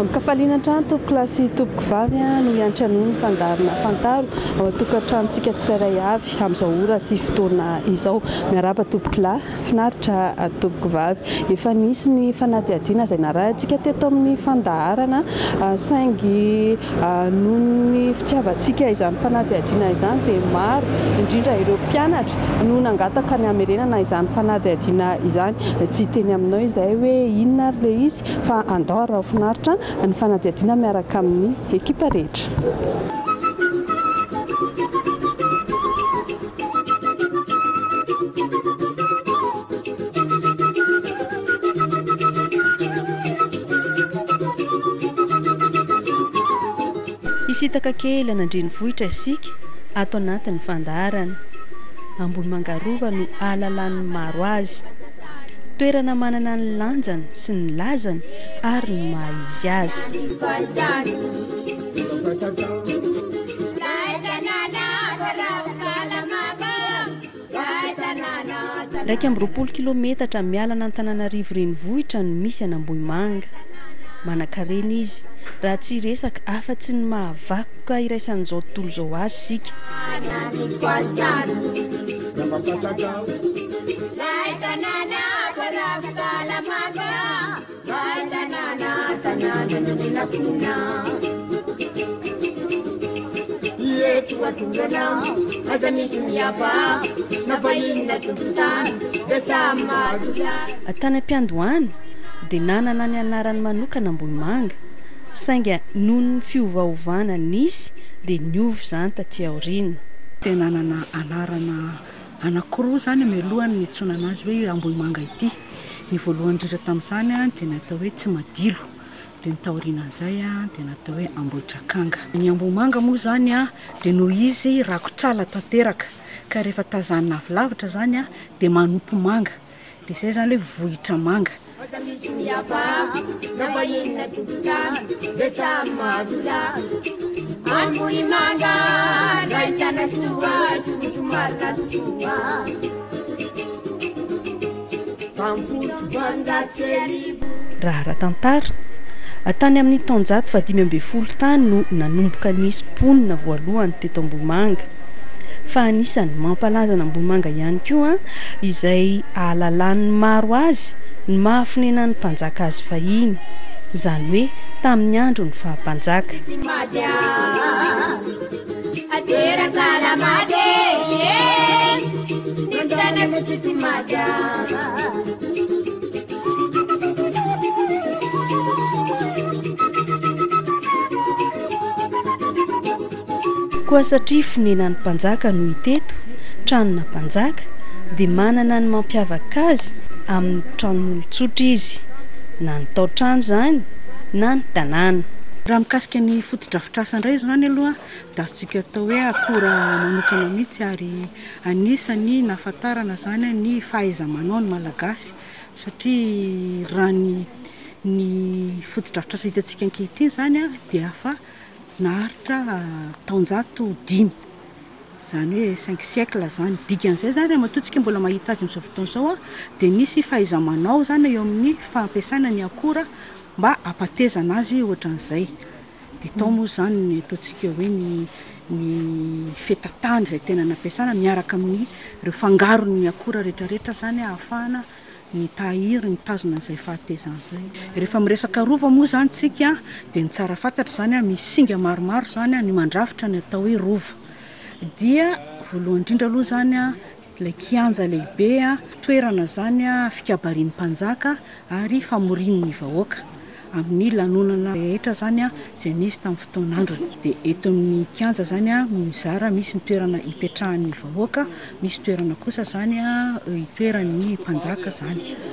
Amin-kafaliana hatrany tompoko lahy sy tompoko vavy no hiantra noho ny fandaharana Fantaro ao an-tokantranontsika tsirairay avy amin'izao ora sy fotoana izao. Miarahaba tompoko lahy, finaritra tompoko vavy. Efa nisy ny fanadihadiana izay narahintsika teto amin'ny fandaharana saingy Noho ny fitiavantsika izany fanadihadiana izany dia maro indrindra ireo mpianatra no nangataka ny hamerenana izany fanadihadiana izany. Tsy hiteny aminao izahay hoe inona ary ilay izy fa andao araho finaritra ny fanadihadiana miaraka amin'ny ekipa rehetra. Hisintaka kely an'Andrenivohitra isika ato anatin'ny fandaharana. Ambohimanga Rova no ahalalan'ny maro azy. Toerana manana ny lanjany sy ny lazany ary ny maha izy azy. Iraika amby roapolo kilaometatra miala an'Antananarivo renivohitra no misy an'Ambohimanga. Manankarena izy, raha tsy hiresaka afa-tsy ny maha vakoka iraisan'izao tontolo izao azy isika. Mpahay tanàna, tanàna nomenakona. Ireto akoranao, aza misy miavaka, na vahiny na tompon-tany, dia samy mahazo lalana. Tany am-piandohana dia nanana ny anarany manokana Ambohimanga, sainga noho ny fiovaovana nisy dia niova izany taty aoriana. Dia nanana anarana anankiroa izany mialohan'ny nitsoinana azy hoe Ambohimanga ity. Ny voalohany indrindra tamin'izany dia ny atao hoe Tsimadilo, dia ny taorianan'izay dia ny atao hoe Ambohidrakanga. Ny Ambohimanga moa izany dia noho izy rakotr'ala tanteraka ka rehefa tazanina avy lavitra izany dia manopy manga, dia izay izany hoe vohitra manga. Aza misy mihababo na vahiny na tompon-trano dia samy mahazo lany. Ambohimanga, nahitana soa, soa somary nazosoa. Raha ara-tantara, tany amin'ny taonjato fahadimy ambin'ny folo tany no nanomboka nisy mponina voalohany teto Ambohimanga. Fa anisan'ny mampalaza an'Ambohimanga ihany koa izay ahalalan'ny maro azy ny maha fonenan'ny mpanjaka azy fahiny, izany hoe tamin'ny andron'ny faha-mpanjaka. Ateraka la mate Ny tanako tsy tsy maga Koa satria fonenan'ny mpanjaka no hita eto, tranona mpanjaka, dia manana ny mampiavaka azy amin'ny tranon'olon-tsotra izy, na ny tao-trano izany na ny tanàna. Raha mikasika ny fotodrafitrasa, Trasan indray izany aloha dia azontsika atao hoe akora manokana mihitsy ary anisany nahafantarana izany ny fahaiza-manao ny Malagasy satria raha ny ny fotodrafitrasa hitantsika ankehitriny izany dia efa naharitra taonjato dimy izany hoe cinq siècles izany. Dikan'izay izany raha matoa tsika mbola mahita azy amin'izao fotoana izao dia nisy fahaiza-manao izany eo amin'ny fampiasana ny akora mba hampatezana azy ohatran'izay. Dia tao moa izany ny ataontsika hoe ny ny fetatany izay tena nampiasana miaraka amin'ireo fangaron'ny akora rehetrarehetra izany ahafahana mitahiry, mitazona an'izay fahatezana izay. Rehefa miresaka rova moa izany isika dia ny tsara fantatra izany, misy singa maromaro izany ny mandrafitra ny atao hoe rova. Dia voalohany indrindra aloha izany, Ilay kianja lehibe toerana izany fikabarian'ny mpanjaka ary famorian'ny vahoaka amin'ny lanonana rehetra izany izay nisy tamin'ny fotoan'androny. Dia eto amin'ny kianja izany no mizara, misy ny toerana hipetrahan'ny vahoaka, misy toerana kosa izany itoeran'ny mpanjaka izany.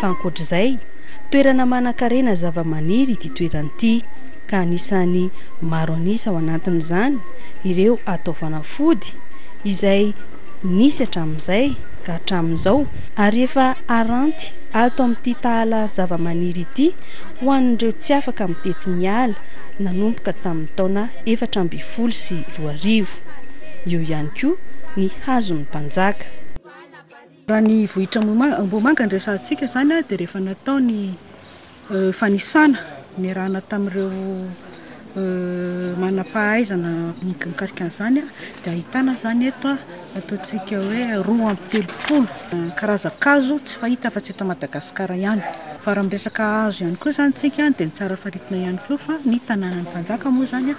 Fa ankoatra izay, toerana manankarena zavamaniry ity toerana ity, ka anisan'ny maro an'isa ao anatin'izany ireo atao fanafody, izay nisy hatramin'izay ka hatramin'izao, ary efa haranty ato amin'ity tahala zavamaniry ity ho an'ireo tsy afaka mitety ny ala nanomboka tamin'ny taona efatra ambin'ny folo sy roa arivo. roa arivo. Eo ihany koa ny hazon'ny mpanjaka. Raha ny vohitra Ambohimanga no resahantsika izany dia rehefa natao ny fanisana niarahana tamin'ireo manam-pahaizana mikasika an'izany dia ahitana izany eto ataontsika hoe roa amby telopolo karazan-kazo tsy fahita afa-tsy eto Madagasikara ihany. Fa raha miresaka hazo ihany koa izany isika dia ny tsara faritina ihany koa fa ny tanànan'ny mpanjaka moa izany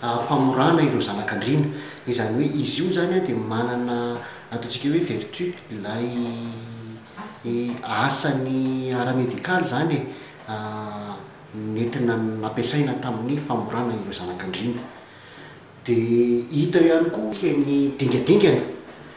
famorana ireo zanak'andriana, izany hoe izy io zany dia manana ataontsika hoe vertu ilay asany ara-medical zany e, nentina nampiasaina tamin'ny famorana ireo zanak'andriana, dia hita eo ihany koa ny dingadingana.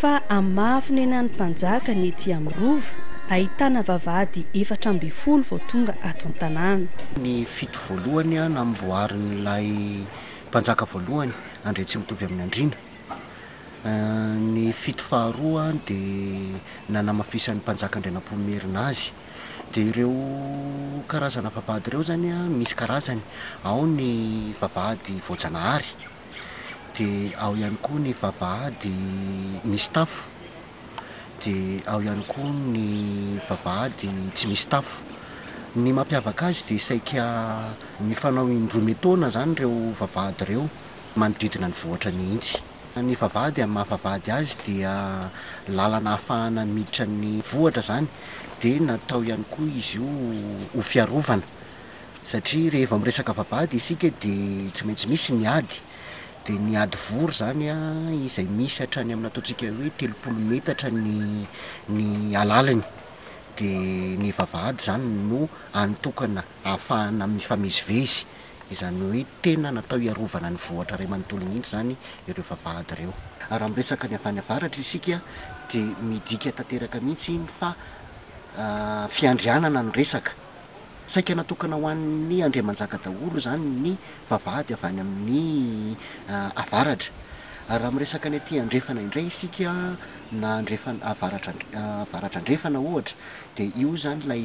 Fa amin'ny maha fonenan'ny mpanjaka ny ety amin'ny Rova, ahitana vavahady efatra ambin'ny folo vao tonga ato an-tanàna. Ny fito voalohany namboarin'ilay mpanjaka voalohany, Andriantsimitovy amin'Andriana. Ny fito faharoa dia nanamafisan'ny mpanjaka Andrianampoinimerina azy. Dia ireo karazana vavahady ireo izany an, misy karazany. Ao ny vavahady voajanahary, dia ao ihany koa ny vavahady misy tafo, dia ao ihany koa ny vavahady tsy misy tafo. Ny mampiavaka azy dia saika mifanao indroa metaona izany ireo vavahady ireo. manodidina ny vohitra mihitsy. Ny vavahady amin'ny maha vavahady azy dia lalana ahafahana miditra ny vohitra izany dia natao ihany koa izy io ho fiarovana satria rehefa miresaka vavahady isika dia tsy maintsy misy ny ady dia ny ady vory izany izay misy hatrany amin'ny ataontsika hoe telopolo metatra ny ny alaliny dia ny vavahady izany no an'ny tokana ahafahana mifamezivezy Izany hoe tena natao hiarovana ny vohitra iray manontolo mihitsy izany ireo vavahady ireo. Raha miresaka ny avy any avaratra isika dia midika tanteraka mihitsy iny fa fiandrianana no resaka. Saika natokana ho an'ny andriamanjaka daholo izany ny vavahady avy any amin'ny avaratra. Ary raha miresaka ny aty andrefana indray isika na andrefana, avaratra, avaratra andrefana ohatra dia io izany ilay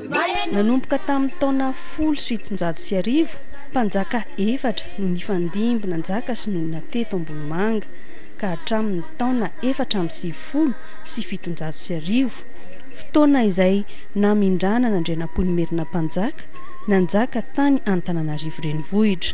Nanomboka tamin'ny taona folo sy fitonjato sy arivo, mpanjaka efatra no nifandimby nanjaka sy nonina teto Ambohimanga, ka hatramin'ny taona efatra amby sivifolo sy fitonjato sy arivo, fotoana izay namindrana an'Andrianampoinimerina Mpanjaka nanjaka tany Antananarivo Renivohitra.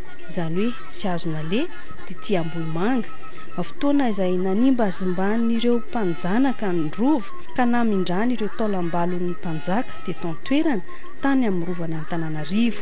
izany hoe tsy azo naleha, tetỳ Ambohimanga, fotoana izay nanimbazimban'ireo mpanjanaka ny Rova ka namindrany ireo taolam-balon'ny mpanjaka teto an-toerana tany amin'ny Rovan'Antananarivo.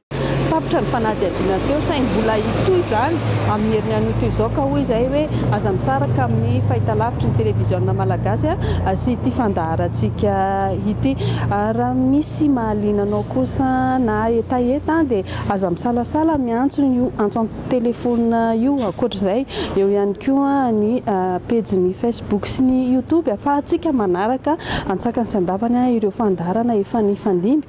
Tapitra ny fanadihadiana teo saingy mbola hitohy izany amin'ny herin'ny anio izao ka hoy izahay hoe aza misaraka amin'ny fahitalavitry ny televiziona malagasy sy ity fandaharantsika ity. Raha misy mahaliana anao kosa na hetaheta dia aza misalasala miantso io antso an-telefonina io. Ankoatra izay eo ihany koa ny pejin'ny Facebook sy ny Youtube ahafahantsika manaraka antsakany sy andavany ireo fandaharana efa nifandimby